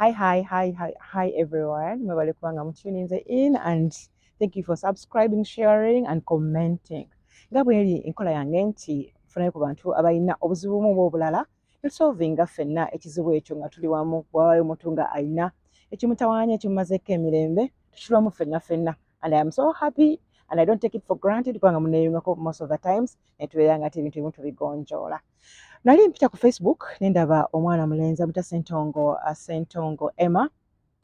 Hi, hi, hi, hi, hi everyone. Mwebale kubanga mutuninze in and thank you for subscribing, sharing and commenting. Nga bweri enkola yange nti funayo ku bantu abalina obuzibu bumu oba obulala tusolvinga ffenna ekizibu ekyo nga tuli wamu wabayo omuntu nga alina ekimutawaanya ekimumazeeko emirembe tukirwamu ffenna ffenna and I am so happy and I don't take it for granted kubanga muneyungako most of the times netubeera nga tebintu ebimu tubigonjoola nali mpita ku facebook nendaba omwana mulenzi amuta sentongo uh, sentongo emma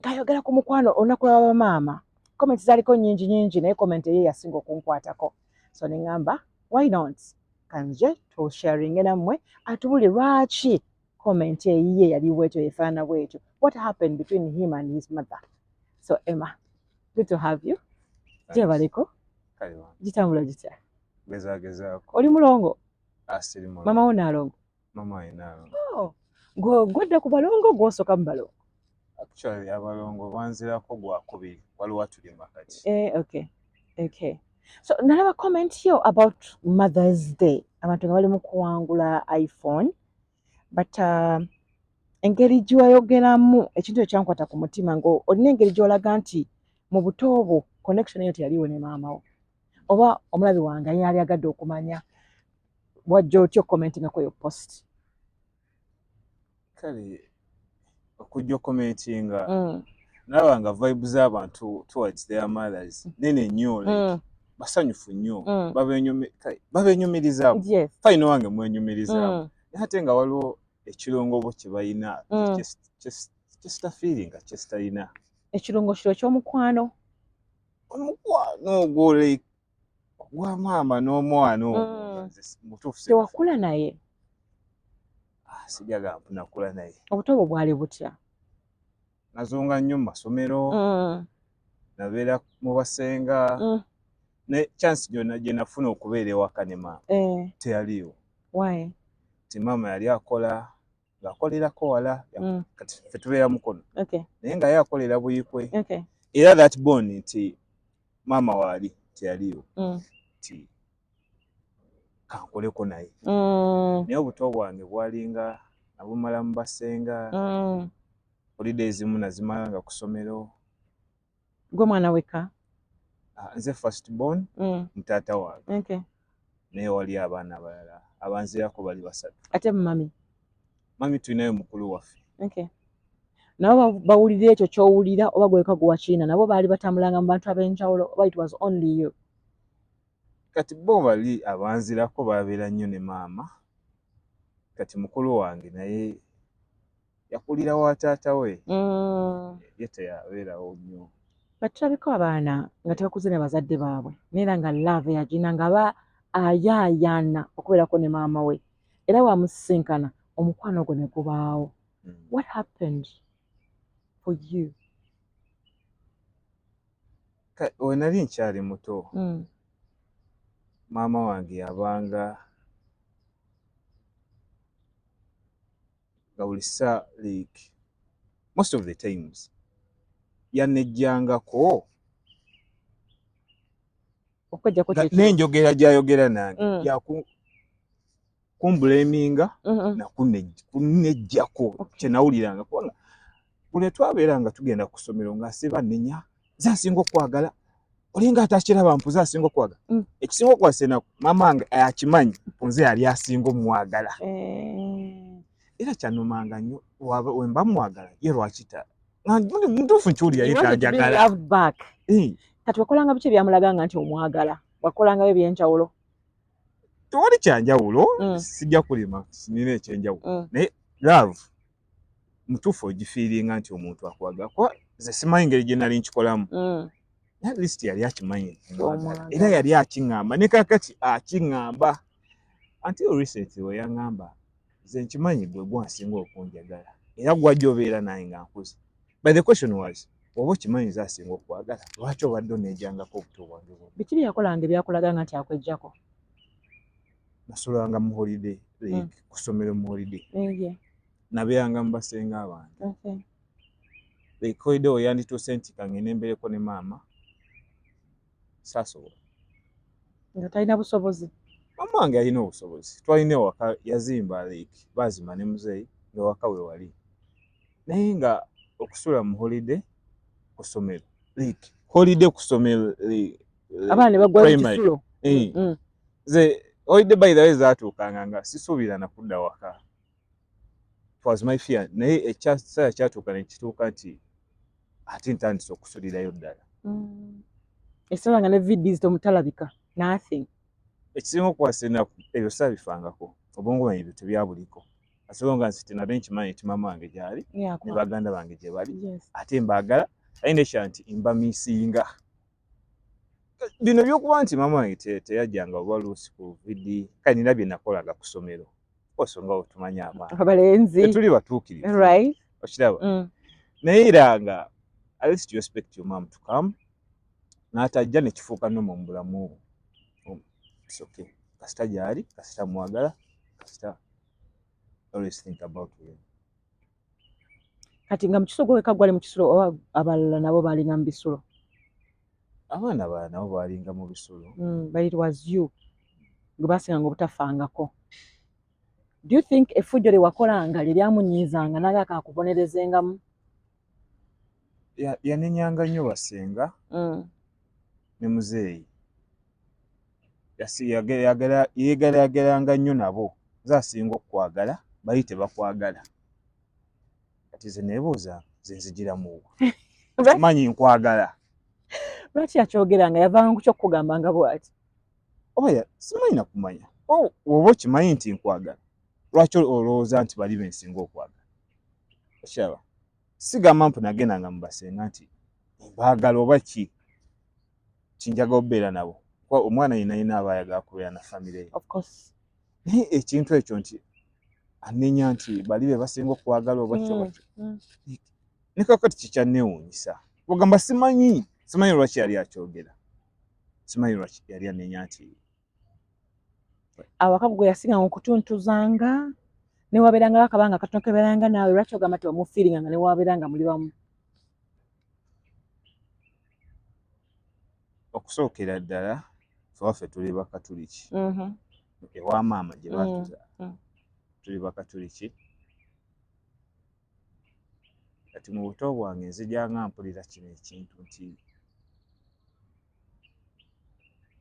ngayogera ku mukwano olunaku lwa bamaama comment zaliko nyingi nyingi naye comment eye yasinga okunkwatako so nengamba why not kanje tusharinge nammwe atubuli lwaki comment eyiye yali bwetyo yefaanana bwetyo what happened between him and his mother so emma good to have you gyebaleko gitambula gitya oli mulongo ah, mama wo naalongo oh, gwodda ku balongo gwosoka mu balongo actually abalongo banzirako gwakubiri waliwo atuli makati eh, okay okay so nalaba comment yo about mothers day abantu nga bali mu kuwangula iphone but uh, engeri gyewayogeramu ekintu ekyankwata ku mutima nga olina engeri gyolaga nti mu buto bwo connection eyo teyaliwo ne maama wo oba omulabi wange ayina ali agadde okumanya wajja otya okukomentingakoyo post kale okujja okukomentinga mm. nalaba nga vibe z'abantu towards their mothers mm. nene nnyo mm. basanyufu nnyo babenyumirizamu fayina wange mwenyumirizamu naye ate nga waliwo ekirongoobo kye balina kyesita feelinga kyesitalina ekirungo kiro ky'omukwano omukwano ogwo like wa maama n'omwana oyo mm. mutuufu tewakula naye ah, sijaga nakula naye obuto bwo bwali butya nazunga nnyo mu masomero mm. nabeera mu basenga mm. ne chance gyona gye nafuna okubeera ewaka ne maama eh. teyaliwo ti maama yali akola ng'akolerako wala mm. kati ffe tubeera mukono naye nga ye akolera buyikwe era that bon nti maama waali teyaliyo mm. nti kankoleko naye mm. naye obuto bwange bwalinga nabumala mu basenga holiday ezimu nazimala nga kusomero gwe mwana weka ah, nze first born mm. mutata wange okay. naye wali abaana abalala abanzirako bali basatu ate mumami mami tulinayo mukulu waffe okay. nabo bawulira ekyo kyowulira oba gweka guwakiina nabo baali batambulanga mu bantu ab'enjawulo oba it was only you kati bo bali abanzirako babeera nnyo ne maama kati mukulu wange naye yakulira wa taata we mm. ye teyabeerawo nnyo but tulabika abaana nga tebakuze ne bazadde baabwe naera nga love yagina nga ba ayaayaana okubeerako ne maama we era wamusisinkana omukwano ogwo ne gubaawo mm. what happened for you we nali nkyali muto mm. maama wange yabanga nga buli saa like most of the times yanejjangako n'enjogera gyayogera nange mm. yakumbuleminga mm-hmm. nakunejjako kyenawuliranga kubanga buli twabeera nga tugenda ku ssomero ng'asiba nenya ze asinga okwagala olinga atakiraba mpuze asinga okwagala mm. ekisinga okwasa enaku maama wange akimanyi nze yali asinga omwagala eh. era kyanumanga nnyo wemba mwagala ye lwakita mutuufu nkiwulira ye tanjagala eh. kati wakolanga biki ebyamulaga nga nti omwagala wakolangayo ebyenjawulo tewali kyanjawulo mm. sijja kulima nina ekyenjawulo mm. naye love mutuufu ogifiiringa nti omuntu akwagala kuba ze simanyi ngeri gye nali nkikolamu mm. at least yali akimanyi era yali akiŋŋamba ne kakati akiŋŋamba anti oriseti we yaŋŋamba ze nkimanyi gwe gwansinga okunjagala era gwajja obeera naye nga nkuze but the question was oba okimanyi ze asinga okwagala lwaki obadde oneejangako obuto bwange bwona biki bye yakolanga ebyakulaga nga nti akwejjako nasulanga mu holiday like mm. kusomero mu holiday mm, yeah. nabeeranga mu basenga abantu okay. like holiday oyo yandituuse nti kangende mbereko ne maama saasobola nga talina busobozi maama wange yalina obusobozi twalina ewaka yazimba like baazimba ne muzeeyi ngaewaka we wali naye nga okusula mu holiday kusomero like holiday kusomero like, eh, abaana ne bagwa mu kisulo eh. mm. nze oyidde by the way zatuukanga nga sisuubira nakudda waka was my fear naye ekiseera kyatuuka nekituuka nti ate ntandise okusulirayo ddala mm. ekiseera nga ne vids tomutalabika nothing ekisinga okukwasa enaku ebyo sabifangako obwongo bwange ebyo tebyabuliko asobonga nsi tinate nkimanyi nti maama wange gyali ne baganda bange gye bali ate mbaagala ayina ekya nti mbamisinga bino byokuba nti maama wange teyajjanga oba luusi ku vidi kale nina bye nakolanga ku ssomero oso nga otumanya abalenzi tuli batuukirivu okiraba mm. naye era nga alist respect yo maam tukam n'atajja ne kifuuka noma mu bulamu obwo oh, soke kasita gyali kasita mwagala kasita always think about him kati nga mukiso gweweka gwali mukisulo oba abalala nabo balinga mubisulo abaana bala nabo balinga mubisulo mm, but it was you gwebasinganga obutafangako do you think efujjo lyewakolanga lyeryamunyiizanga naye akakubonerezengamu yanenyanga nnyo basenga mm. ne muzeeyi yeegalayagalanga nnyo nabo ze asinga okukwagala bali tebakwagala kati ze neebuuza ze nzigiramuwa manyi nkwagala lwaki yakyogera nga yavanga ku kyokukugamba nga bwati oya simanyi nakumanya oh, oba okimanyi nti nkwagala lwaki olowooza nti bali bensinga okwagala okyaba sigamba mpu nagendanga mu basenga nti mbaagala oba ki kinjaga obeera nabo kuba omwana yena yena aba ayagala kubeera na famire ye naye ekintu ekyo nti anenya nti bali be basinga okwagala oba kyo mm, mm. ne kakati kikyanneewuunyisa ogamba simanyi simanyi lwaki yali akyogera simanyi lwaki yali anenya nti awaka gwe yasinga okutuntuzanga newabeeranga akabanga katono kebeeranga naawe lwaki ogamba ti omufiiringa nga newabeeranga muli wamu okusookera ddala fewaffe tuli bakatuliki mm-hmm. ewa maama gye batuza mm-hmm. tuli bakatuliki kati mu buto bwange nzijanga mpulira kino ekintu nti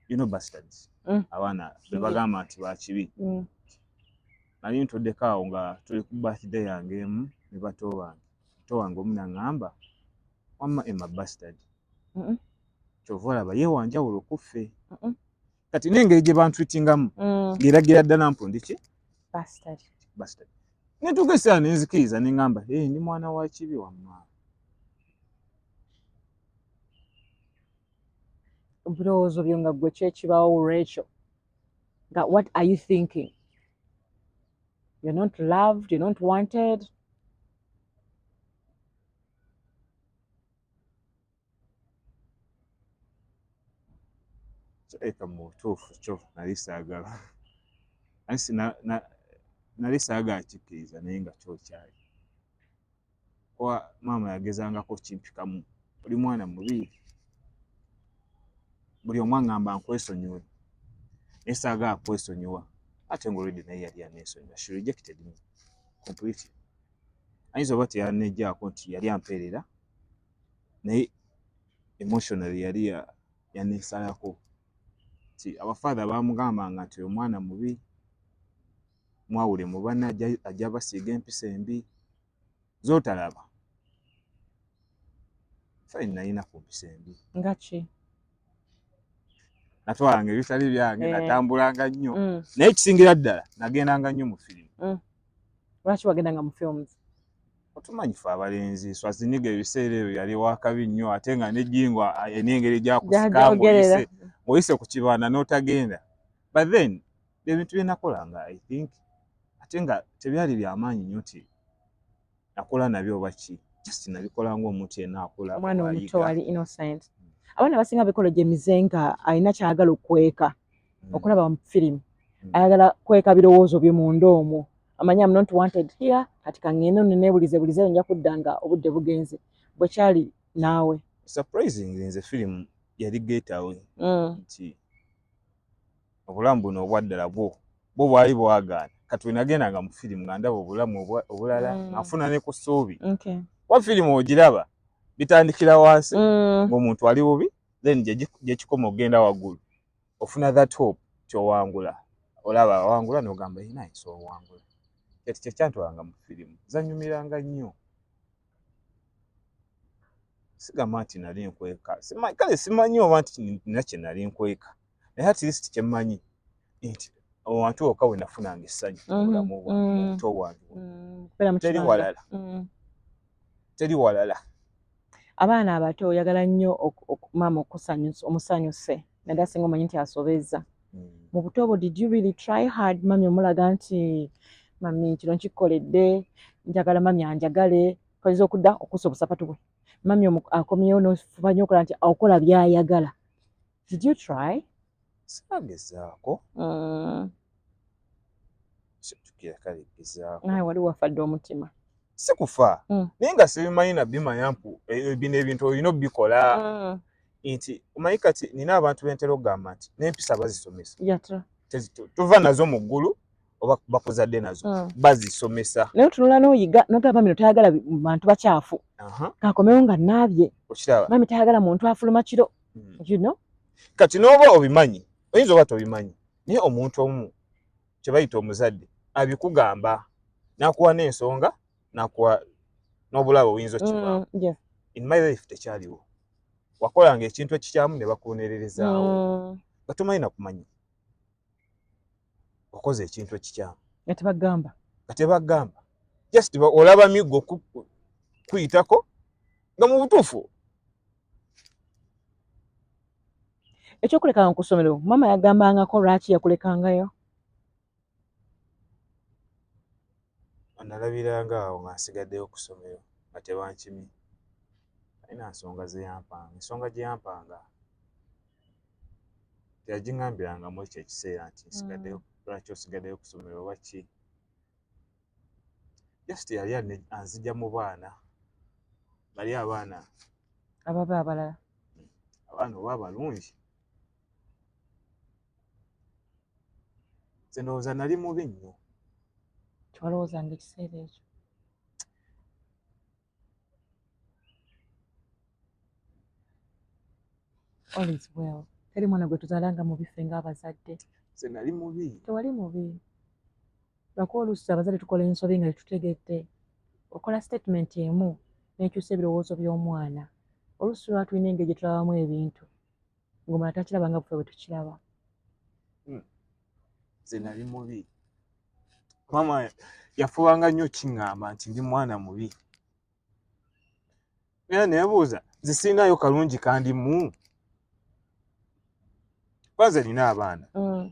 you know bastards mm. abaana bebagamba nti bakibi mm. nali ntuddeko awo nga tuli ku birthday yange emu ne bato bange bato wange omu naŋŋamba wamma emma bastard kyova olaba ye wanjawulo kuffe kati nengeri gye bantwitingamu mm. ngeragira ddala mpu ndiki netuuka esaa nenzikiriza nengamba e ndi mwana wa kibi wamma ebirowoozo byo nga gwe kyekibawo olwekyo nga what are you thinking you're not loved you're not wanted eka mu butuufu kyo nali saagala ansi nali saagala kikkiriza naye nga kyokyali kuba maama yagezangako kimpikamu oli mwana mubi buli omu aŋŋamba nkwesonyiwe naye saagala kwesonyiwa ate nga olwedde naye yali aneesonyiwa she rejected me completely ayinza oba teyanejjaako nti yali ampeerera naye emotionally yali yanesalako nti abafaatha bamugambanga nti omwana mubi mwawule mu banna ajja basiiga empisa embi zotalaba fine nalina ku mpisa embi ngaki natwalanga ebitali byange eh. natambulanga nnyo mm. naye ekisingira ddala nagendanga nnyo mu firimu mm. lwaki wagendanga mu films otumanyi fe abalenzi swaziniga ebiseera ebyo yali wakabi nnyo ate nga nejingo enengeri gyakusikangaoyise oyise ku kibanda n'otagenda but then ebintu byenakolanga i think ate nga tebyali byamaanyi nnyo ti nakola nabyo oba ki just nabikola ng'omuntu yenna akula omwana omuto wali innocent abaana abasinga bikolo gye mize nga alina kyayagala okukweka mm. okulaba mu firimu mm. ayagala kweka birowoozo bye munda omwo amanyi am not wanted here kati kangende no nebulize bulize nja kudda nga obudde bugenze bwe kyali naawe surprising nze firimu yali getawe mm. nti obulamu buno obwaddala bwo bwo bwali bwagaana kati wenagendanga mu firimu nga ndaba obulamu obulala mm. afuna ne ku ssuubi wa firimu ogiraba bitandikira wansi mm. ng'omuntu ali bubi then gyekikoma okugenda waggulu ofuna that hope kyowangula olaba awangula nogamba yina nsi owangula kati kyekyantwalanga mu firimu zanyumiranga nnyo sigamba nti nali nkweka kale simanyi oba nti nina kyenali nkweka naye at least kyemmanyi nti owantu oka we nafunanga essanyu mm-hmm. obulamu bwanto mm-hmm. wange mm-hmm. teri walala teri walala abaana abato oyagala nnyo maama okusanyusa omusanyuse naddala singa omanyi nti asobezza mm. mu buto obwo did you really try hard mami omulaga nti mami kino nkikoledde njagala mami anjagale kayinza okudda okusa obusapatu bwe mami akomyewo nofuba nyo okola nti akola byayagala Did you try? Sagezaako. Mm. Situkira kale gezaako. Naye wali wafadde omutima. Sikufa. Mm. Naye nga sibimanyi na bima yampu e, bino ebintu olina obikola. Mm. Nti omanyi kati nina abantu bentera okugamba nti n'empisa bazisomesa. Yatra. Tuva nazo mu ggulu. oba bakuzadde nazo mm. bazisomesa naye otunula noyiga nogamba mino tayagala bantu bakyafu kakomewo nga naabye mami tayagala muntu afuluma kiro hmm. you know kati noba obimanyi oyinza oba tobimanyi naye omuntu omu kyebayita omuzadde abikugamba nakuwa n'ensonga nakuwa n'obulabo oyinza okibaawo mm, yeah. in my life tekyaliwo wakolanga ekintu ekikyamu ne bakuwonererezaawo mm. batumanyi nakumanya okoze ekintu ekikyamu nga tebagamba nga tebagamba just olaba miggo kuyitako nga mu butuufu ekyokulekanga ku ssomero maama yagambangako lwaki yakulekangayo analabiranga awo nga nsigaddeyo ku ssomero nga tebankimi alina nsonga zeyampanga ensonga gyeyampanga teyagingambirangamu ekyo ekiseera nti nsigaddeyo mm. lwaki osigaddeyo kusomero oba ki just yali anzija mu baana bali abaana ababe abalala hmm. abaana oba abalungi nze ndowooza nali mubi nnyo kyewalowooza nga ekiseera ekyo all is well teri mwana gwe tuzalanga mubi ffe ngaabazadde nze nali mubi tewali mubi lwako oluusi abazadde tukola ensobi nga tetutegedde okola statement emu nekyusa ebirowoozo by'omwana oluusi lwatulina engeri gyetulabamu ebintu ng'omala takiraba nga bwe tukiraba hmm. nze nali mubi maama yafubanga nnyo kiŋŋamba nti ndi mwana mubi era nebuuza nze sirinayo kalungi kandimu kwanze nina abaana hmm.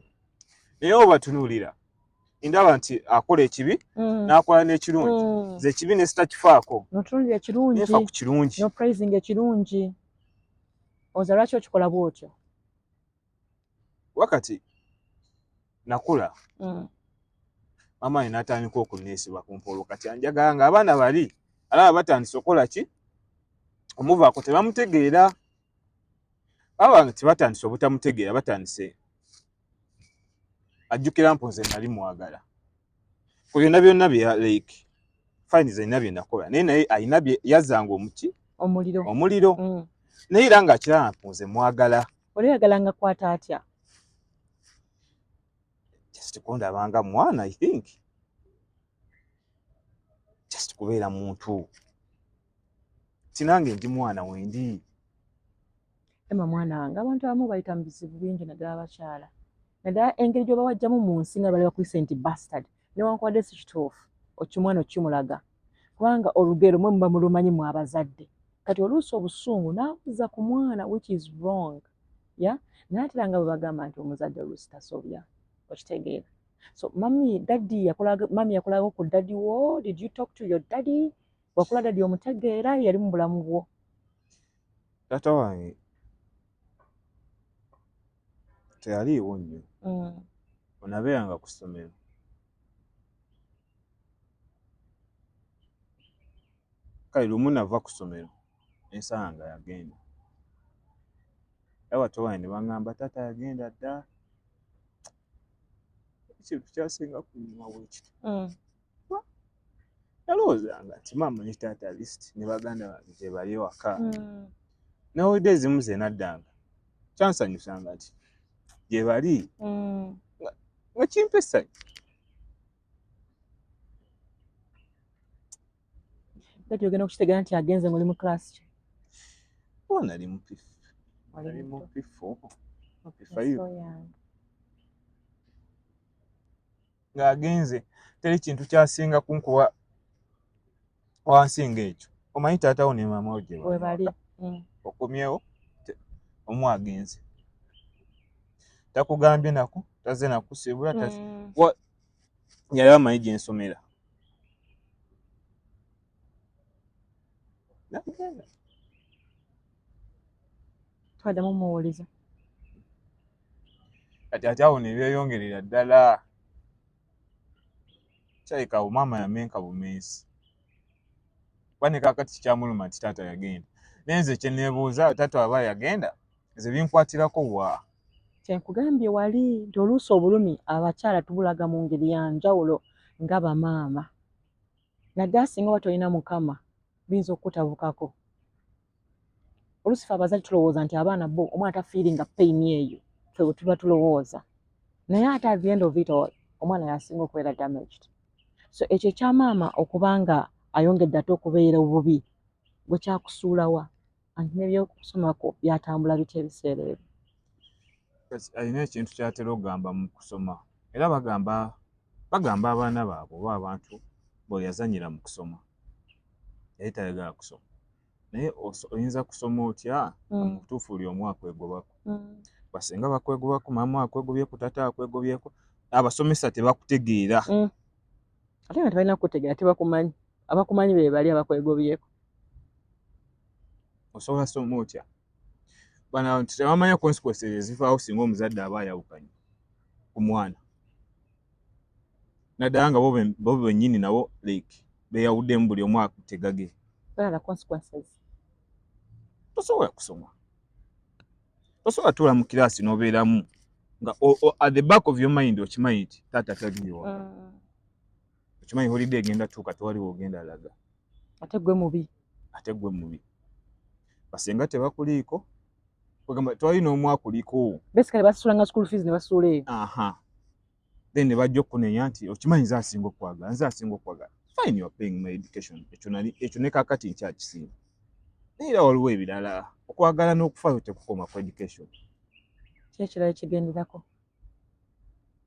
naye obatunuulira ndaba nti akola ekibi mm. n'akola n'ekirungi mm. ze ekibi ne sitakifaako nefa ku kirungi oza lwaki okikola bwotyo wakati nakula mm. mama yena atandika okuneesiba ku mpoolo kati anjagala nga abaana bali alaba batandise okukola ki omuvaako tebamutegeera baba tebatandise obutamutegeera batandise ajjukira mpo nze nali mwagala ku byonna byonna bya like fine zalina bye nakola naye naye alina bye yazanga omuki omuliro omuliro mm. naye era nga akiraba nze mwagala oli oyagala nga kwata atya just kundabanga mwana i think just kubeera muntu tinange ndi mwana wendi ema mwana wange abantu abamu bayita mu bizibu bingi naddala abakyala naddala engeri gyoba wajjamu mu nsi nga bali bakuyise nti bastard newankubadde si kituufu okimwana okimulaga kubanga olugero mwe muba mulumanyi mu abazadde kati oluusi obusungu nabuza ku mwana which is wrong ya naatera nga bwe bagamba nti omuzadde oluusi tasobya okitegeera so mami daddy yakulaga mami yakulaga ku daddy wo did you talk to your daddy wakula daddy omutegeera yali mu bulamu bwo taata wange teyaliiwo nnyo mm. onabeeranga ku ssomero kale lumu nava ku ssomero ensala nga yagenda abato wange ne baŋŋamba taata yagenda dda ekintu kyasinga kunyuma bwekiti mm. nalowoozanga nti maama ne taata alist ne baganda bange gyebali ewaka mm. nawulidde ezimu ze naddanga kyansanyusanga nti gyebali mm. nga kimpa essanyu kati ogenda okukitegera nti agenze ngaoli mu class ki oba nali mupifu nali mupifu mupifayo ng'agenze teri kintu kyasinga kunkuba wansi ng'ekyo omanyi taatawo ne maama wo gye bali mm. okomyewo omu agenze takugambye naku taze nakusibula mm. yali amanyi gye nsomera twadamu muwuliza kati ate awo nebyeyongerera ddala kyayika awo maama yamenka bumensi kuba ne kakati kikyamuluma nti taata yagenda naye nze kyenebuuza taata aba yagenda nze binkwatirako wa kyenkugambye wali nti oluusi obulumi abakyala tubulaga mu ngeri ya njawulo nga bamaama naddala singa oba tolina mukama biyinza okukutabukako olusi fe abazali tulowooza nti abaana bo omwana tafiiringa pain eyo fe wetuba tulowooza naye ate at the end of it all omwana yasinga okubeera damaged so ekyo ekyamaama okuba nga ayongedde ate okubeera obubi gwe kyakusuulawa anti nebyokusomako byatambula bitya ebiseera ebyo alina ekintu kyatera okugamba mu kusoma era bagamba bagamba abaana baabwe oba abantu bweyazanyira mu kusoma yali tayagala kusoma naye oyinza kusoma otya mm. mubutuufu buli omu akwegobako mm. basinga bakwegobako maama akwegobyeku tata akwegobyeku abasomesa tebakutegeera mm. ate nga tebalina kukutegeera tebakumanyi abakumanyi bebali abakwegobyeku osobola soma otya bana tebamanya consequences ezivaawo singa omuzadde aba ayawukanye ku mwana naddala nga bo bennyini nabo like beyawuddemu buli omu akutegage tosobola kusoma tosobola tuula mu kiraasi n'obeeramu nga at the back of your mind okimanyi nti taata tagiwa mm. okimanyi holide egenda tuuka tewali wogenda laga ate gwe mubi ate gwe mubi basenga tebakuliiko kwegamba tewali n'omu akuliko besikale basusulanga school fees ne basuula eyo aha then ne bajja okukunenya nti okimanyi nze asinga okwagala nze asinga okwagala fine you are paying my education ekyo nali ekyo ne kakati nkyakisinga naye era waliwo ebirala okwagala n'okufa tekukoma ku education kyekirala ekigenderako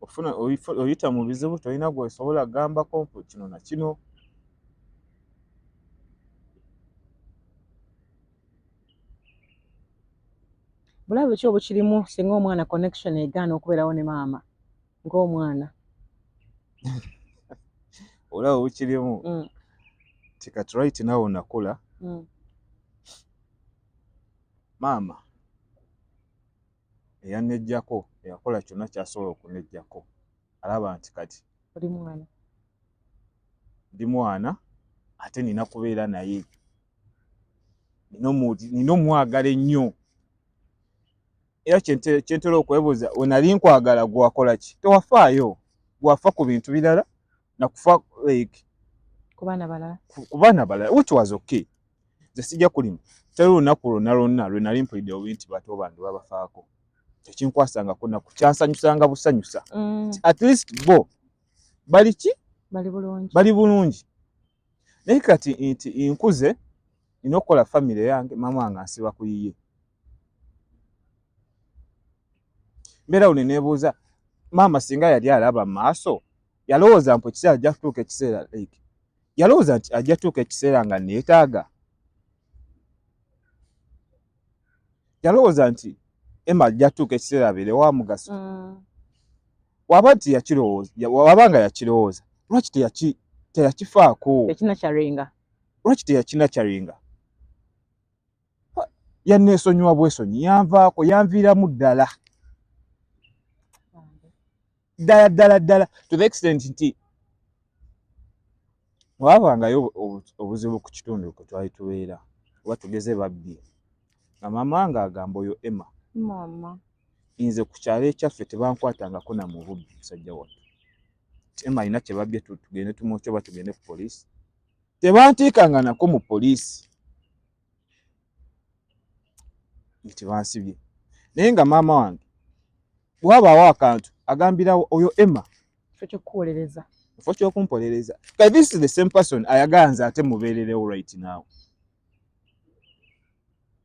ofuna oyita mu bizibu tolina gwesobola gambako kino nakino bulabe ki obukirimu singa omwana connection egaana okubeerawo ne maama ngaomwana olaba obukirimu mm. tikatright nawe onakula mm. maama eyanejjako eyakola kyonna kyasobola okunejjako alaba nti kati oli mwana ndi mwana ate nina kubeera naye nina omwagala ennyo era kyentera okwebuuza wenali nkwagala gwakola ki tewafaayo gwafa ku bintu birala na kufa like kubana balala kubana balala which was okay nze sijja kulima teri lunaku lwonna lwonna lwe nali mpulidde obubi nti bato bange babafaako tekinkwasangako naku kyansanyusanga busanyusa mm. at least bo bali ki bali bulungi bali bulungi naye kati nti nkuze nina okukola famire yange maama wange ansiba ku yiye mbeera wone nebuuza maama singa yali alaba maaso yalowooza mpu ekiseera ajja kutuuka ekiseera like yalowooza nti ajja kutuuka ekiseera nga neetaaga yalowooza nti emma ajja kutuuka ekiseera abeere wa mugaso mm. waba nti yakirowooza waba nga yakirowooza lwaki teyakifaako lwaki teyakina kyaringa yanneesonyiwa bwesonyi yanvaako yanviiramu ddala ddala ddala ddala to the extent nti waabangayo obuzibu ku kitundu kwe twali tubeera oba tugeze babbi nga maama nga agamba oyo emma maama nze ku kyalo ekyaffe tebankwatangako na mububbi musajja wattu emma alina kyebabbye tugende tumwokya oba tugende ku poliisi tebantiikanga nako mu poliisi nti bansibye naye nga maama wange bwabaawo akantu agambirawo oyo emma ekyokuwolereza ekifo kyokumpolereza kati this is the same person ayagala nze ate mubeererewo right now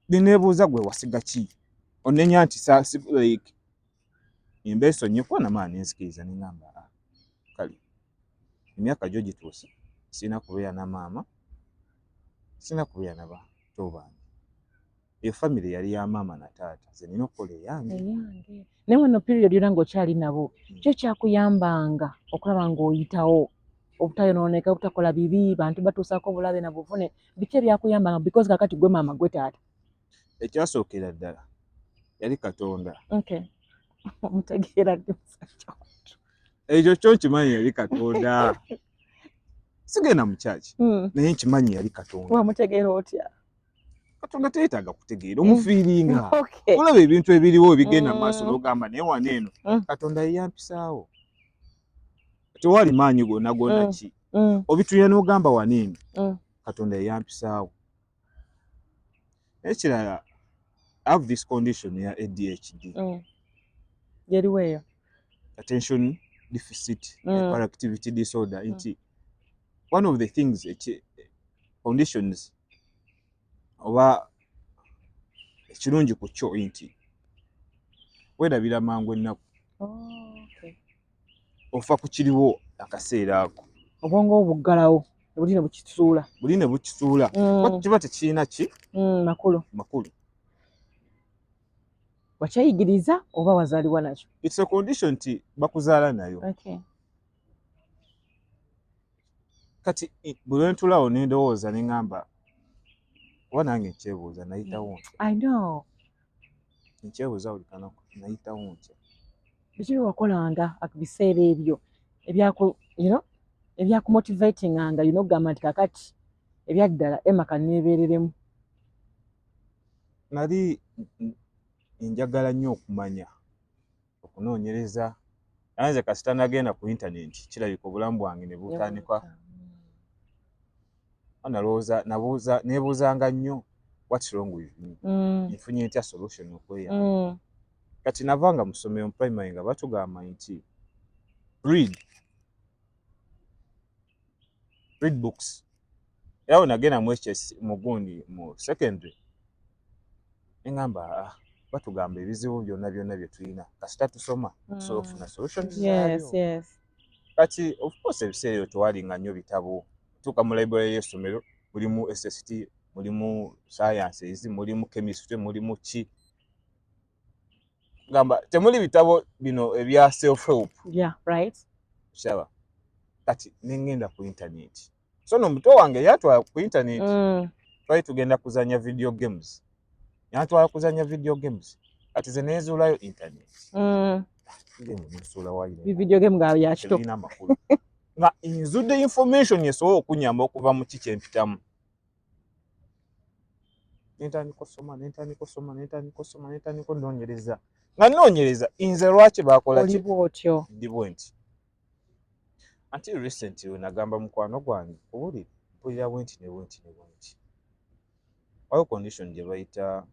binebuuza gwe wasiga ki onenya nti like embeso nnyo kuba namaa nenzikiriza nengamba a ah, kale emyaka gyo gituuse sirina kubeera na maama sirina kubeera na bato bange eyo famire yali ya maama na taata ze nina okukola eyange naye wano period yona nga okyali nabo hmm. kyo kyakuyambanga okulaba ngaoyitawo obutayonooneka obutakola bibi bantu batuusaako obulabe na buvune biki ebyakuyambanga because kakati gwe maama gwe taata ekyasookera ddala yali katonda omutegeera ekyo kyo nkimanyi yali katonda sigenda mu kyaki hmm. naye nkimanyi yali katonda wamutegeera otya katonda teyetaaga kutegeera hmm. omufiiringa olaba ebintu ebiriwo ebigenda mu maaso hmm. nogamba naye wano eno katonda yeyampisaawo tewali maanyi gonna gonna ki obitulira nogamba wano eno katonda yeyampisaawo ekirala have this condition ya adhd mm. yeriwo eyo attention deficit mm. hyperactivity disorder mm. nti one of the things eki conditions oba ekirungi ku kyo nti werabira mangu ennaku oh, okay. ofa ku kiriwo akaseera ako obwongo obuggalawo buli ne bukisuula buli ne bukisuula mm. kiba tekirina ki mm, makulu makulu wakyayigiriza oba wazaliwa nakyo its a condition nti bakuzaala nayo okay. kati bwe lwentulawo nendowooza ne ŋamba oba nange nkyebuuza nayitawo mm. i know nkyebuuza buli kanaku nayitawo ntya biki byewakolanga biseera ebyo ebyakumotivatinganga yina okugamba nti kakati ebyaddala emaka nebereremu nali njagala nnyo okumanya okunoonyereza naye nze kasita nagenda ku intanenti kirabika obulamu bwange ne butandika nalowooza nabuuza nebuuzanga nnyo what's wrong with me mm. nfunye ntya solution okweya mm. kati navanga mu ssomero mu primary nga batugamba nti read read books era we nagenda mu hs mugundi mu secondary engamba ah, batugamba ebizibu byonna byonna bye tulina kasita tusoma mm. tusobola okufuna solution kati ofcourse ebiseera ebyo tewalinga nnyo bitabo tuuka mu library y'essomero mulimu sst mulimu sciences mulimu chemistry mulimu ki gamba temuli bitabo bino ebya self help yeah right shaba kati nengenda ku internet so no muto wange yatwa ku internet mm. twali tugenda kuzanya video games yatwa kuzanya video games kati ze nezula yo internet mm. video game ga ya chito na inzude information yeso okunyamba okuva mu kichempitamu nentandika osoma nentandika osoma nentandika osoma nentandika onoonyereza nga noonyereza nze lwaki bakola oliba otyo ndi bwe nti until recently wenagamba mukwano gwange obuli mpulira bwenti ne bwenti ne bwenti waliwo condition gye bayita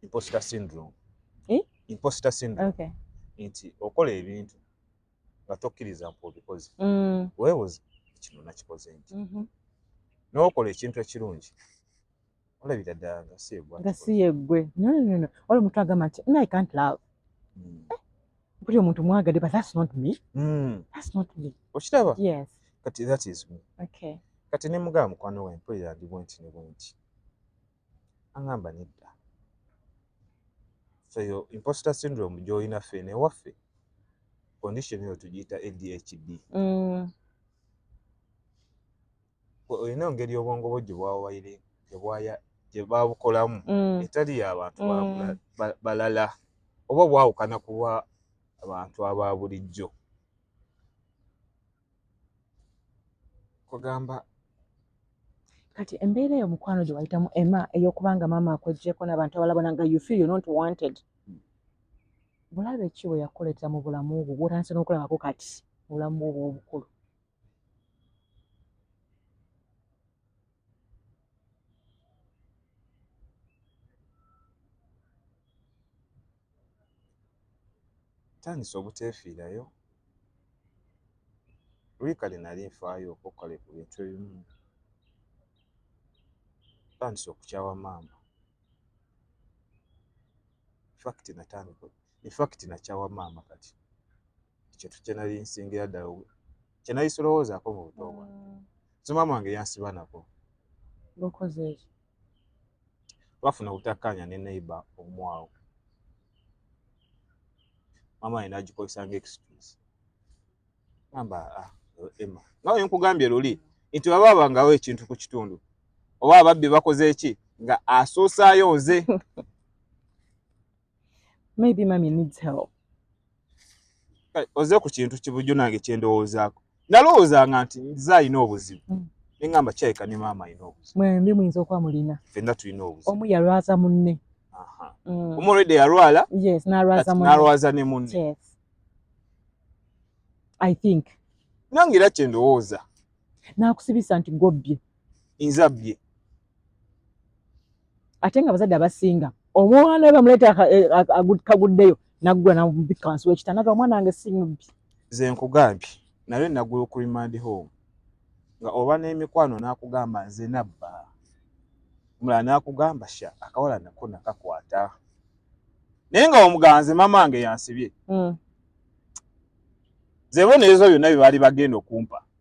imposter syndrome eh? imposter syndrome okay. nti okola ebintu nga tokkiriza mpu obikoze mm. weebuze kino nakikoze nti mhm. n'okola ekintu ekirungi olabira ddala nga si yegwe nga si yegwe nonono wali omuntu agamba nti no i can't love mm. eh, buli omuntu mwagadde but that's not me mm. that's not me okiraba yes kati that is me okay kati ne mugamba mukwano we mpulira ndi bwenti ne bwenti aŋamba nedda feyo imposter syndrome gyolina ffe newaffe condition eyo tugiyita adhd mm. olina engeri obwongo bwo gyebwawaire gyebwaya gyebabukolamu mm. etali yabantu mm. balala oba bwawukana kuba abantu aba bulijjo kugamba kati embeera eyo mukwano gye wayitamu ema ey'okubanga maama akwejjeko n'abantu abala bona nga you feel you're not wanted bulabe ki bwe yakuleetera mu bulamu bwo bwotandise n'okulabako kati mu bulamu bwo obw'obukulu ntandise obuteefiirayo luli kale nali nfaayo okale ku bintu ebimu ntandise okukyawa maama fakiti natandika infakiti nakyawa maama kati kyetu kyenali nsingira ddala kyenali sirowoozaako mu buto bwange mm. so maama wange yansiba nako twafuna obutakkaanya ne neighbor omwawo maama yena agikozesa nga excuse amba ah, ema nawe nkugambye luli nti baba babangawo ekintu ku kitundu oba ababbi bakoze eki nga asoosaayo nze maybe mami needs help oze ku kintu kibujjo nange kyendowoozaako nalowoozanga nti nze alina obuzibu mm. nengamba kyayika ne maama alina obuzibu mwembi muyinza okuba mulina fenna tulina obuzibu omu yalwaza munne mm. omu olwedde yalwala nalwaza ne munne i think nange era kyendowooza nakusibisa nti gobbye nzabbye ate nga abazadde abasinga omwana we bamuleeta eh, kaguddeyo naggula namubikka wansi wekitanda ga omwana wange si mubbi ze nkugambye naye naggula ku remand home nga oba n'emikwano n'akugamba nze nabba omulala n'akugamba sha akawala nako nakakwata naye nga omuganze maama wange yansibye hmm. zebona ezo byonna bye baali bagenda okumpa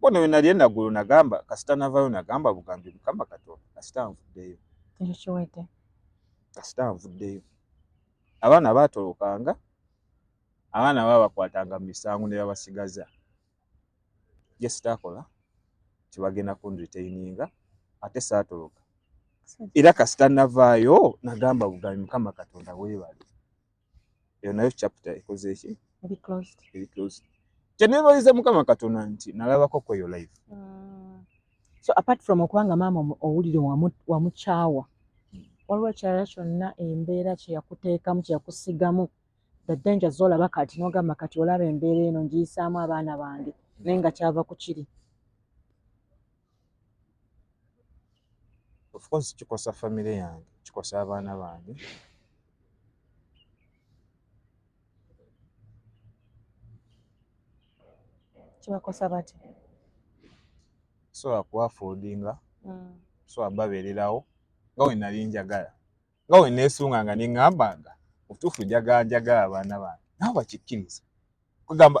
bona wenali enagulu nagamba kasita navayo nagamba bugambi mukama katonda kasita nvuddeyo ekyo kiwedde kasita nvuddeyo abaana batolokanga abaana babakwatanga mu misango ne babasigaza jesitakola tibagenda kunritaininga ate saatoloka era kasita navaayo nagamba bugambi mukama katonda webale eyo nayo chapter ekoze eki eri closed eri closed kyenebaliza mukama katonda nti nalabako kweyo live mm. so apart from okubanga maama owulire wamukyawa waliwo ekirala kyonna embeera kyeyakuteekamu kyeyakusigamu the danger zolaba kati nogamba kati olaba embeera eno ngiyisaamu abaana bange naye nga kyava ku kiri of course kikosa family yange kikosa abaana bange kibakosa bati so akuwafudinga mm. so ababererawo nga wenali njagala nga we neesunga nga neŋŋamba nga mutuufu njaganjaga abaana bange nabo bakikkiriza kugamba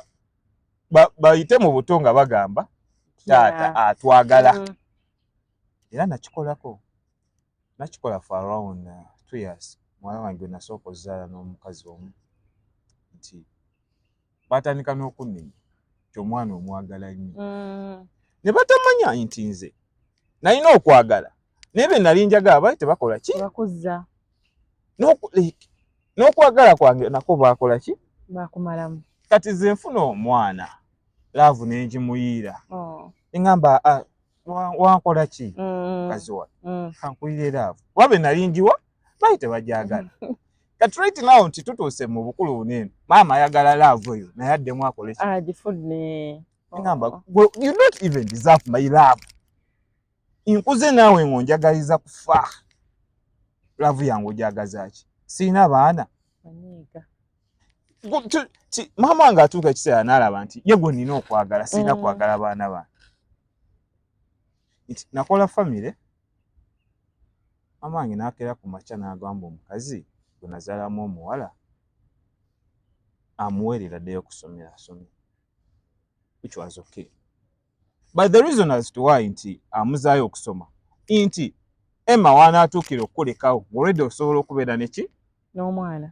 bayite mu buto nga bagamba taata atwagala mm. era nakikolako nakikola for around uh, two years mwana wange nasooka ozaala n'omukazi omu nti baatandika n'okunnenya nti omwana omwagala nnyo mm. ne batamanya nti nze nalina okwagala naye be nali njagala bali tebakola ki n'okwagala kwange nako baakola ki bakumalamu kati ze nfuna omwana laavu nengimuyiira oh. eŋamba ah, wankola ki mm. kaziwa mm. kankuyiire laavu kuba be nali njiwa bayi tebagyagala kati right now nti tutuuse mu bukulu bunene maama ayagala love oyo naye addemu akole agamba ah, oh. you not even deserve my love nkuze naawe ngo njagaliza kufa love yange ogyagazaki sirina baana maama wange atuuka ekiseera naalaba nti ye gwe nina okwagala sirina mm. kwagala baana bange nti nakola famire maama wange n'akeera ku makya n'agamba omukazi gwe nazaalamu omuwala amuweerera ddeyo okusomera asome which was okay but the reason as to why nti amuzaayo okusoma nti emma waanaatuukira okukulekawo ng'olwedde osobola okubeera neki n'omwana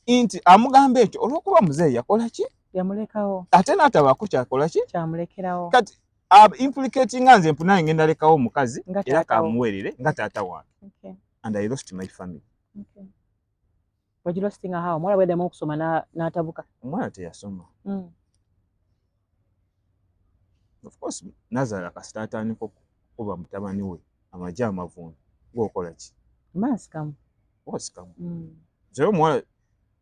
nti amugamba ekyo olwokuba muzeeyi yakola ki yamulekawo ate n'atabaako kyakola ki kyamulekerawo kati implicatinga nze mpunaye ngenda lekawo omukazi era kamuwerere nga taata wange and i lost my family wagilostinga hawo omwana bweddamu okusoma n'atabuka omwana teyasoma hmm. of course nazala kasita atandika okuba mutabani we amagye amavundu ngaokola ki maaskamu osikamu mm. nze omuwala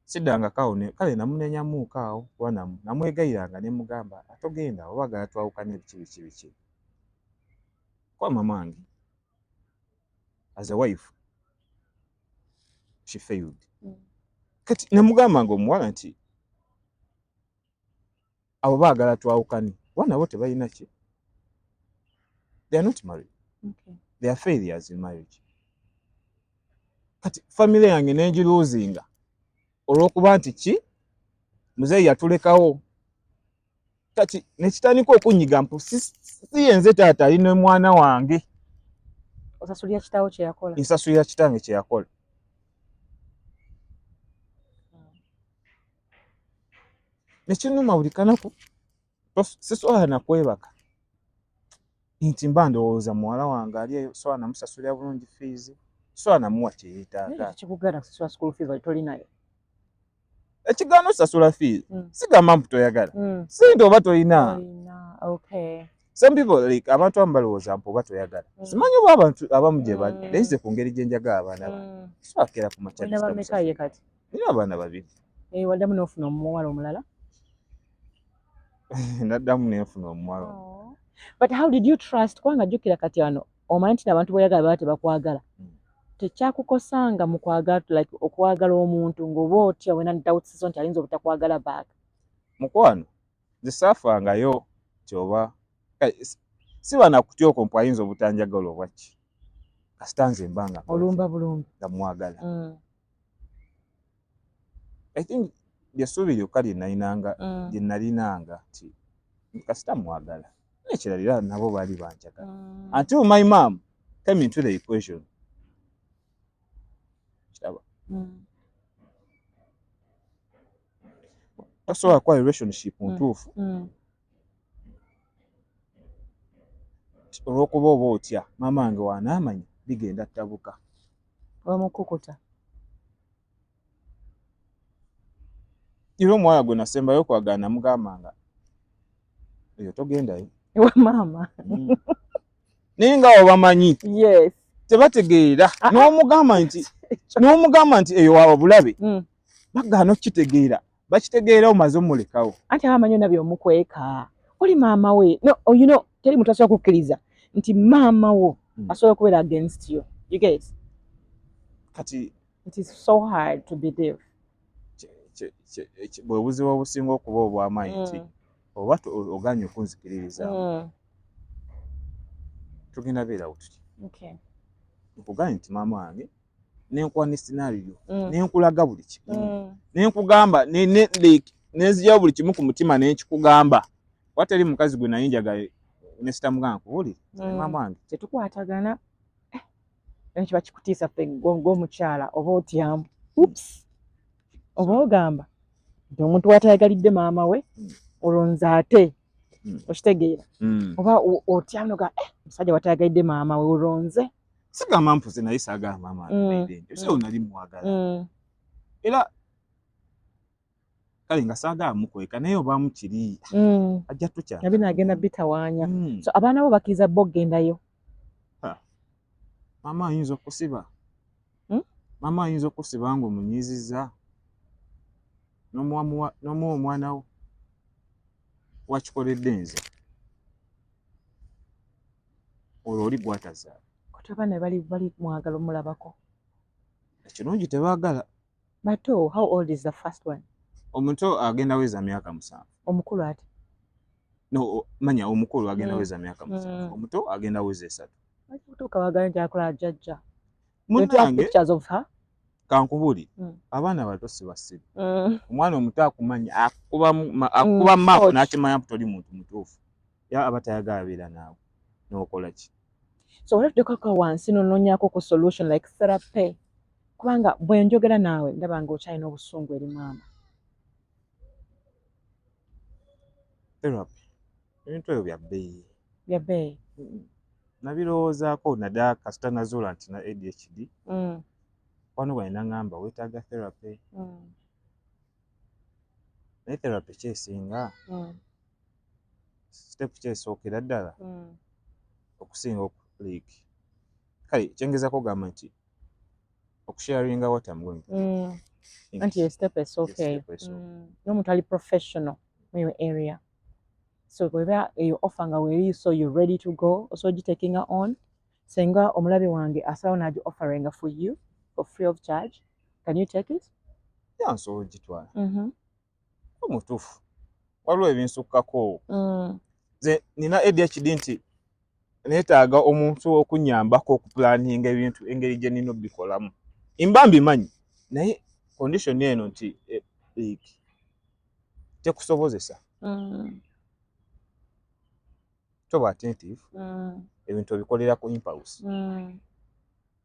siddangako awo kale namunenyamuuka awo kuba namwegayiranga ne mugamba atogenda oba agala twawukana ebiki biki biki kuba mamange as a wife she failed mm. kati namugamba nga omuwala nti abo baagala twawukane kuba nabo tebalina ki they are not married okay. they are failures in marriage kati family yange nengiluzinga olwokuba nti ki muzeeyi yatulekawo kati nekitandika okunyiga mpu siyenze taata ali nomwana wange osasulira kitawo kyeyakola nsasulira kitange kyeyakola ekinuma buli kanaku siswala nakwebaka nti mba ndowooza muwala wange ali eyo swala namusasulira bulungi fiizi swala namuwa kyeyetaaga ekigaana osasula fiizi hmm. sigamba mbu toyagala hmm. sente oba tolina some people like abantu abamu balowooza mpu oba toyagala hmm. simanyi oba abantu abamu gye bali naye nze ku ngeri gye njagala abaana bange swakera ku makyakati era abaana babiri eh, waddamu n'ofuna omuwala omulala naddamu nenfuna omuwala oh. but how did you trust kubanga jjukira kati wano omanyi nti nabantu boyagala baba tebakwagala hmm. tekyakukosanga mu kwagala like okwagala omuntu ng'oba otya wena dawutsizo nti ayinza obutakwagala baaga mukwano zisafangayo kyoba eh, si banakutya okwo mpu ayinza obutanjagala obwaki kasita nze mbanga olumba bulumbi nga mwagala mm. i think lyessuubi lyokka lyenalinanga mm. lyenalinanga nti kasita mwagala nekirala era nabo baali banjagala mm. until my mom came into the equation kiraba mm. tasobola kuba relationship ntuufu olwokuba oba otya maama wange wanaamanya bigenda ttabuka wemukukuta era omuwala gwe nasembayo okwagala namugamba nga eyo togendayo ewa maama mm. naye nga obamanyi yes tebategeera ah, ah. n'omugamba nti n'omugamba nti eyo wawa bulabe mm. bagaana okukitegeera bakitegeera omaze omulekawo anti abamanyi ona byomukweka oli maama we no oh, you know teri muntu asobola kukkiriza nti maama wo hmm. asobola okubeera against you you get kati it is so hard to believe bwebuzibu obusinga okuba obwamaanyi nti hmm. oba oganye okunzikiririza hmm. tugenda beerawo tuti nkuganye nti maama wange nenkuwa ne scenario mm. nenkulaga buli kimu mm. nenkugamba ne, ne, ne, nenzijawo buli kimu ku mutima nenkikugamba watali mukazi gwe naye njagala nesita mugana kuwulira mm. maama wange tetukwatagana eh, naye kiba kikutiisa ffe ng'omukyala oba otyamu ups oba ogamba nti omuntu watayagalidde maama we mm. olwo nze ate mm. okitegeera oba otyamu noga eh, omusajja watayagalidde maama we olwo nze sigamba mpuze naye saagala maama abeere nti osawo nali mwagala era kale nga saagala mukweka naye obaamu kiri mm. ajja tukya nabi naagenda bitawaanya mm. so abaana bo bakkiriza bo okugendayo maama ayinza okusiba hmm? maama ayinza okusiba nga omunyiiziza nomuwa omwana wo wakikoledde nze olwo oli gwatazaala kati abaana bali bali mwagala omulabako ekirungi tebagala bato how old is the first one omuto agenda weza myaka musanvu omukulu ati no manya omukulu agenda mm. weza myaka musanvu mm. omuto agenda weza esatu kutuuka wagala nti akola jajja munange kankubuli mm. abaana bato sibasiru mm. omwana omuto akumanya akuba mm. mapu nakimanya toli muntu mutuufu ya aba tayagala beera naawe nokola ki so olina tutekoka wansi nononyako ku solution like therapy kubanga bwenjogera naawe ndaba nga okyalina obusungu eri maama therapy ebintu ebyo bya bbeeyi bya bbeeyi nabirowoozaako naddala kasita nazuula nti na adhd mm. wano bwani naŋamba wetaaga therapy mm. naye therapy kyesinga mm. sitepu kyesookera ddala mm. okusinga like kale kyengezako ogamba nti okusharinga what am going mm. anti esitepu esookeyo mm. nomuntu ali professional muyo area so weba eyo offer nga weri so you ready to go oso ogitekinga on senga omulabe wange asalawo nagi offeringa for you for free of charge can you take it yeah, nsobola ogitwala mm-hmm. mutuufu waliwo ebinsukkako mm. nze nina adhd nti neetaaga omuntu okunyambako okupulaninga ebintu engeri gye nina obikolamu imba mbimanyi naye condition eno nti eh, like tekusobozesa mm. toba attentive mm. ebintu obikolera ku impulse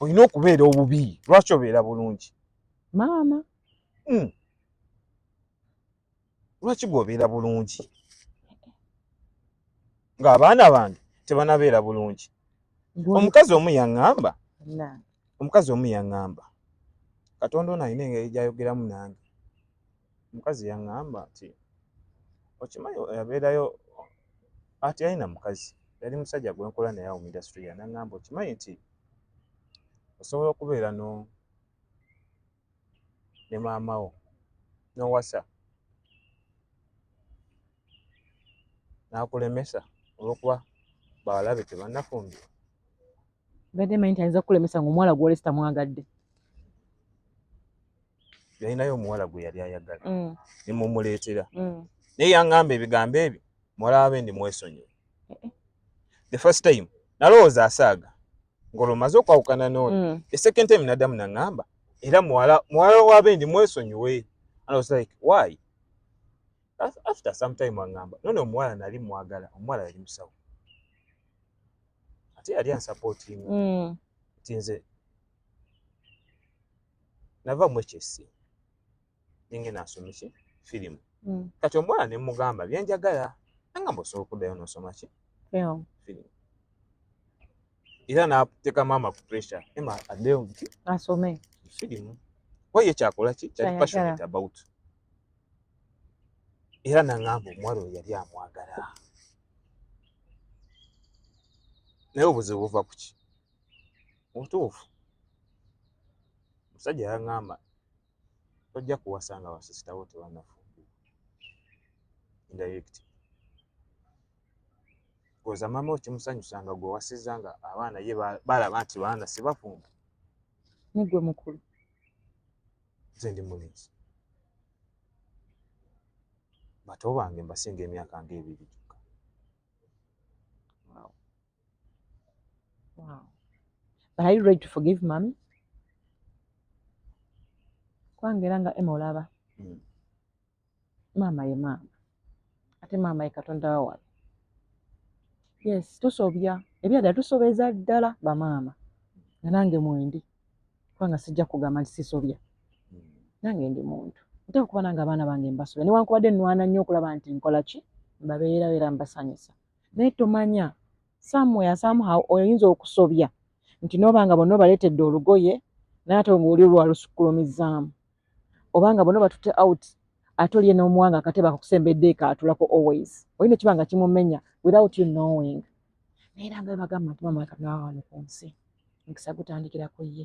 olina okubeera obubi lwaki obeera bulungi maama hmm. lwaki gweobeera bulungi ng'abaana bange tebanabeera bulungi omukazi omu yaŋŋamba omukazi omu yaŋŋamba katonda ono alina engeri gyayogeramu nange omukazi yaŋŋamba nti okimanyi yabeerayo ati yalina mukazi yali musajja gwe nkola naye awo mu indasitule ya naŋŋamba okimanyi nti osobola okubeera no ne maama wo n'owasa n'akulemesa olw'okuba bawala be tebannafumbirwa mbadde manyi nti ayinza kukulemesa nga omuwala gwolesi tamwagadde yalinayo omuwala gwe yali ayagala mm. ne mumuleetera mm. naye yaŋŋamba ebigambo ebyo muwala wabe ndi mwesonyiwe eh, eh. the first time nalowooza asaaga ng'olwo maze okwawukana n'oyo mm. the second time naddamu naŋŋamba era muwala muwala wabe ndi mwesonyiwe and i was like why after some time aŋŋamba nono omuwala nali mwagala omuwala yali musawo ate yali ansapootinga mm. ti nze nava mu hsc ninge nasoma ki firimu mm. kati omuwala ne mugamba byenjagala anga mbosobola okuddayo nosoma ki firimu era nateeka maama ku pressure ema addeyo nti asome firimu waye kyakola ki kyali passionate about era naŋŋamba omuwala oyo yali amwagala naye obuzibu buva ku ki mubutuufu omusajja yaŋŋamba tojja kuwasa nga basisitawo tebanafumbirwa indirect koza mama okimusanyusa nga gwe wasiza nga abaana ye balaba nti baana sibafumba nigwe mukulu nze ndi mulenzi bato bange mbasinga emyaka nga ebiri gyokka wow. wow. but are you ready to forgive mami kwangera nga ema olaba mm. maama ye maama ate maama ye katonda wawala yes tusobya ebyadala tusobeza ddala bamaama nga nange mwendi kubanga sijja kugamba nti sisobya hmm. nange ndi muntu nteeka okuba nange abaana bange mbasobya newankubadde nwana nnyo okulaba nti nkola ki mbabeerawo era mbasanyusa naye tomanya somewhere somehow oyinza okusobya nti noba nga bonna obaleetedde olugoye naye ate ngaoli olwalusukkulumizaamu obanga bona batute out ate olye n'omuwanga akateba akakusembedde kaatulako always olina ekiba nga kimumenya without you knowing naye era nga bagamba nti mama kanawa wano ku nsi mukisa gutandikira ku ye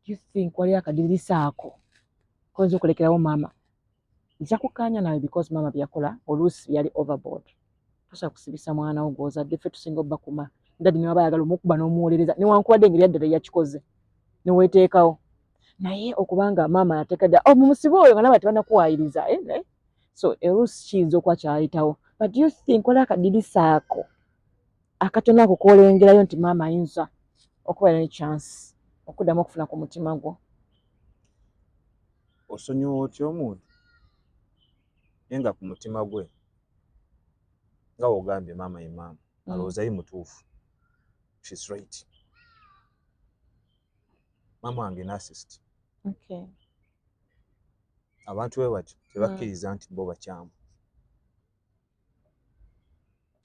do you think waliyo akadirisa ako koyinza okulekerawo maama nja kukkaanya nawe because maama byeyakola oluusi yali overboard tosa kusibisa mwana wo gwozadde ffe tusinga obakuma dadi newaba ayagala omukuba n'omuwolereza newankubadde engeri yaddala eyakikoze neweteekawo naye okubanga maama yatekada oh, mumusibe oyo nga naba tebanakuwayiriza eh, eh? so erusi kiyinza okuba kyayitawo but you think waliwo akadirisa ako akatono ako kolengerayo nti maama ayinza okuba ne chance okuddamu okufuna ku mutima gwo osonyiwa otya omuntu naye nga ku mutima gwe nga wogambye maama ye maama mm. alowooza ye mutuufu shes right maama wange nasist okay. abantu we batyo tebakkiriza nti bo bakyamu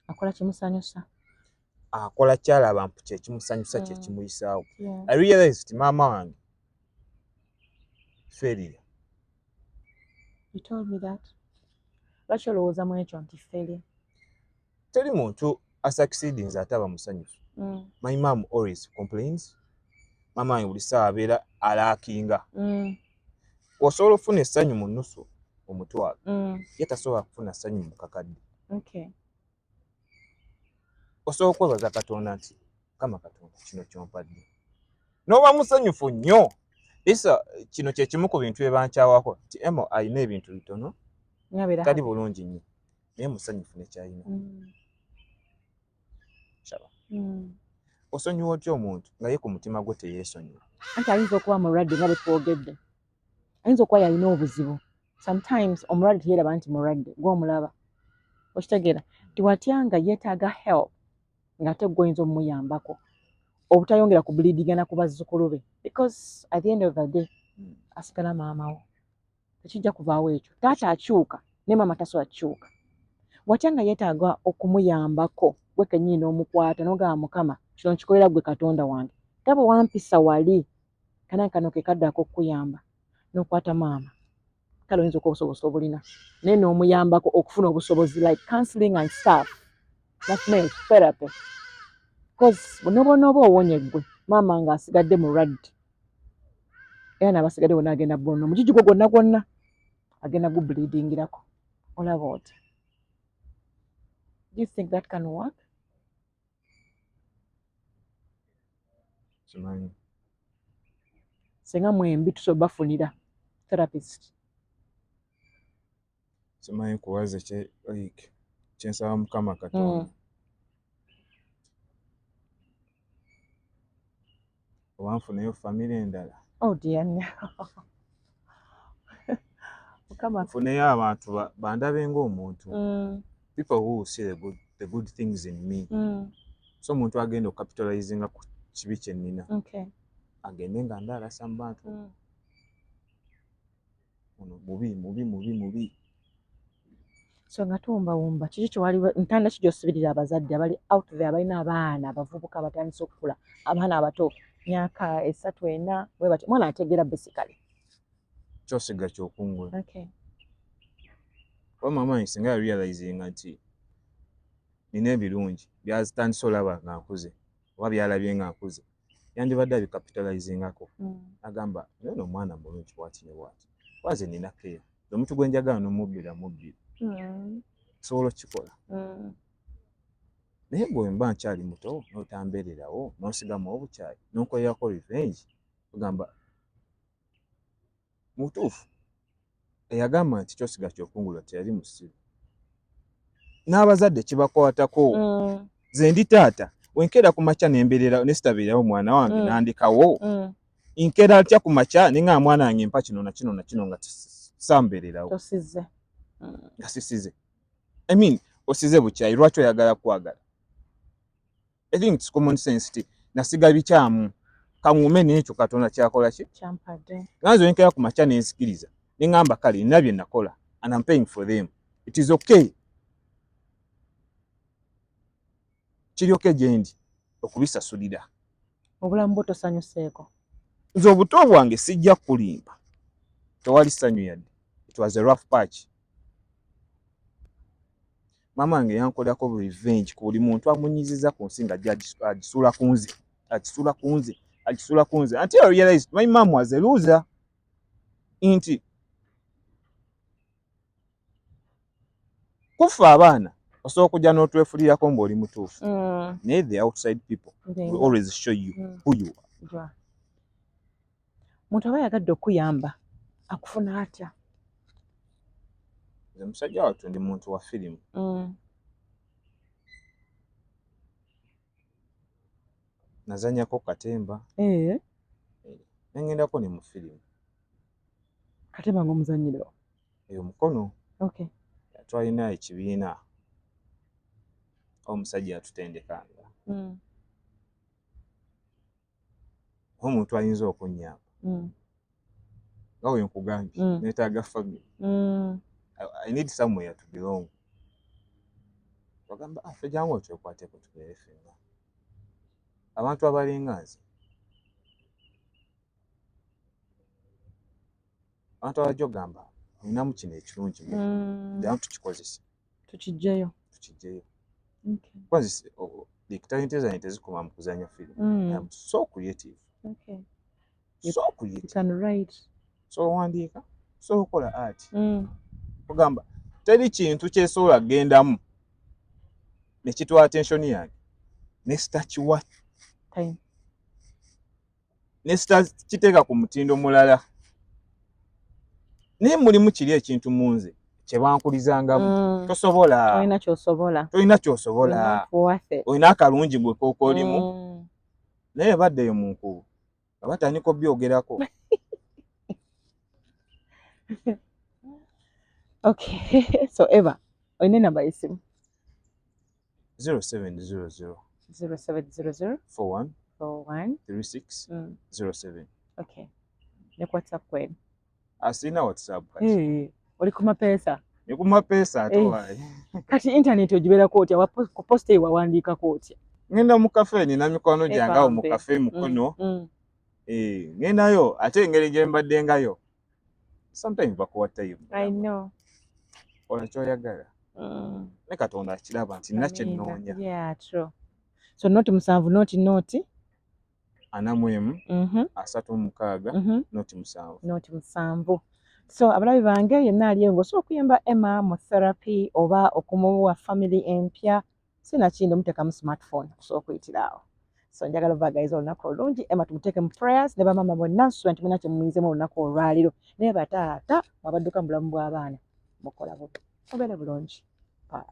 akola kimusanyusa akola kyalaba mpu kyekimusanyusa mm. kyekimuyisaawo i realize ti maama wange feria lwaki olowooza mu ekyo nti feri teri muntu asucceedings ate aba musanyufu mm. my mam always complains maama wange buli saawa abeera alaakinga mm. osobola okufuna essanyu mu nnusu omutwalo ye tasobola kufuna ssanyu mu kakadde osobola kwebaza katonda nti mukama katonda kino kyompadde noba musanyufu nnyo isa kino kyekimu ku bintu byebankyawako nti emo alina ebintu bitono tali bulungi nnyo naye musanyufu nekyalina mm. mm. osonyiwa otya omuntu nga ye ku mutima gwo teyesonyiwa anti ayinza okuba mulwadde nga bwetwogedde ayinza okuba yalina obuzibu sometimes omulwadde teyeraba nti mulwadde gwomulaba okitegeera nti watya nga yetaaga help ngaate gwoyinza omumuyambako obutayongera ku bulidigana ku bazzukulu be because at the end of the day hmm. asigala maamawo tekijja kuvaawo ekyo taata akyuka naye maama tasobola kukyuka watya nga yetaaga okumuyambako gwe kenyini n'omukwata nogamba mukama kino nkikolera gwe katonda wange gaba wampisa wali kana kano ke kadde ak'okukuyamba n'okwata maama kale oyinza okuba obusobozi obulina naye n'omuyambako okufuna obusobozi like counseling and staff nafune therapy bcause nobonooba owonye gwe maama nga asigadde mulwadde era nabasigadde wona agenda bono omujiji gwo gwonna gwonna agenda gubleedingirako olaba oti do you think that can work kimanyi senga mwembi tusobola bafunira therapist simanyi kuwaze kye like kyensaba mukama katonda mm. oba nfuneyo famire endala oh, nfuneyo abantu bandabe ngaomuntu mm. people who see the good, the good things in me mm. so omuntu agenda okukapitalizinga ku kibi kyenina agende nga ndaalasa mu bantu mm. ono mubi mubi mubi mubi so nga tuwumbawumba kiki kyewali ntanda ki gyosibirira abazadde abali out there abalina abaana abavubuka abatandise okukula abaana abato myaka esatu ena webatyo omwana ategeera basically kyosiga kyokungula okay. wa mama nsinga yarealizinga nti nina ebirungi byazitandise olaba nga nkuze oba byalabye nga nkuze yandibadde abicapitalizingako mm. agamba naye no omwana mulungi bwati ne bwati waze nina keya omuntu gwe njagala nomubbira mubbira mm. osobola okukikola mm. naye gwe mba nkyali muto notambeererawo nosigamu obukyayi nonkoyako revenge ogamba mu butuufu eyagamba nti kyosiga kyokungula teyali musiru n'abazadde kibakwatako mm. ze ndi taata wenkeera ku makya nembeerera nesitabeerawo omwana wange mm. nandikawo mm. nkeera atya ku makya ne nga mwana wange mpa kino na kino na kino nga sambeererawo nga sisize i mean osize bukyayi lwaki oyagala kwagala I think it's common sense ti nasiga bikyamu kangume nekyo katonda kyakola ki kyampade nganzo yenkera ku macha nensikiriza nengamba kale nabye nakola and I'm paying for them it is okay kiri okay jendi okubisasulira obulamu bwo tosanyuseeko nze obuto bwange sijja kulimba tewali sanyu yadde it was a rough patch maama wange yankolako revenge ku buli muntu amunyiziza ku nsi nga agisula ku nze agisula ku nze agisula ku nze until I realized my mom was a loser nti kuffa abaana osobola okujja n'otwefulirako ng'oli mutuufu mm. naye the outside people will always show you mm. who you are muntu aba yagadde okukuyamba akufuna atya nze musajja wattu ndi muntu wa firimu mm. nazanyako katemba eh. eh, nengendako ne mu firimu katemba ngaomuzanyiro eyo mukono twalina ekibiina omusajja yatutendekanga mm. omuntu ayinza okunyamba mm. nga we nkugambye mm. netaaga family mm. i need somewhere to belong bagamba afe ah, jangu otwekwateko tubeere fenna abantu abalinga nze abantu abajja okugamba olinamu kino ekirungi mm. damu tukikozesa tukijjeyo tukijjeyo okay. because oh, like talent zani tezikoma mu kuzanya film mm. I'm so creative okay. so creative you can write so owandiika so okola art mm. ogamba teri kintu kyesobola kugendamu nekitwa attention yange ne stakiwa time ne sitakiteeka ku mutindo mulala naye mulimu kiri ekintu mu nze kyebankulizangamu mm. tosobola tolina kyosobola tolina kyosobola olina akalungi gwe kokolimu mm. naye baddeyo mu nkubu nga batandika obyogerako okay so eva olina enamba yesimu 0700 0700 41 41 36 mm. 07 okay ne whatsapp kwenu asina ah, whatsapp kati hey, oli ku mapesa ni ku mapesa ate hey. Eh. wayi kati internet ojibera koti awa ku post ewa wandika koti ngenda mu cafe ni na mikono janga mu cafe mukono mm. mm. eh ngendayo ate ngeri je mbadde ngayo sometimes bakuwa time i know ola kyoyagala mm. ne katonda akiraba nti nina kyenoonya yeah, true so not musanvu not not ana mu emu mm -hmm. asatu mukaaga mm -hmm. not musanvu not musanvu so abalabi bange yenna aliyo ngaosobola okuyamba emma mu therapy oba okumuwa family empya sinakindi omutekamu smartphone okusobola okuyitira awo so njagala obagayiza olunaku olungi ema tumuteeke mu prayers ne bamama bonna nsuba nti muna kyemumuyizemu olunaku olwaliro naye bataata mwabadduka mu bulamu bw'abaana mukola bubi mubeere bulungi bye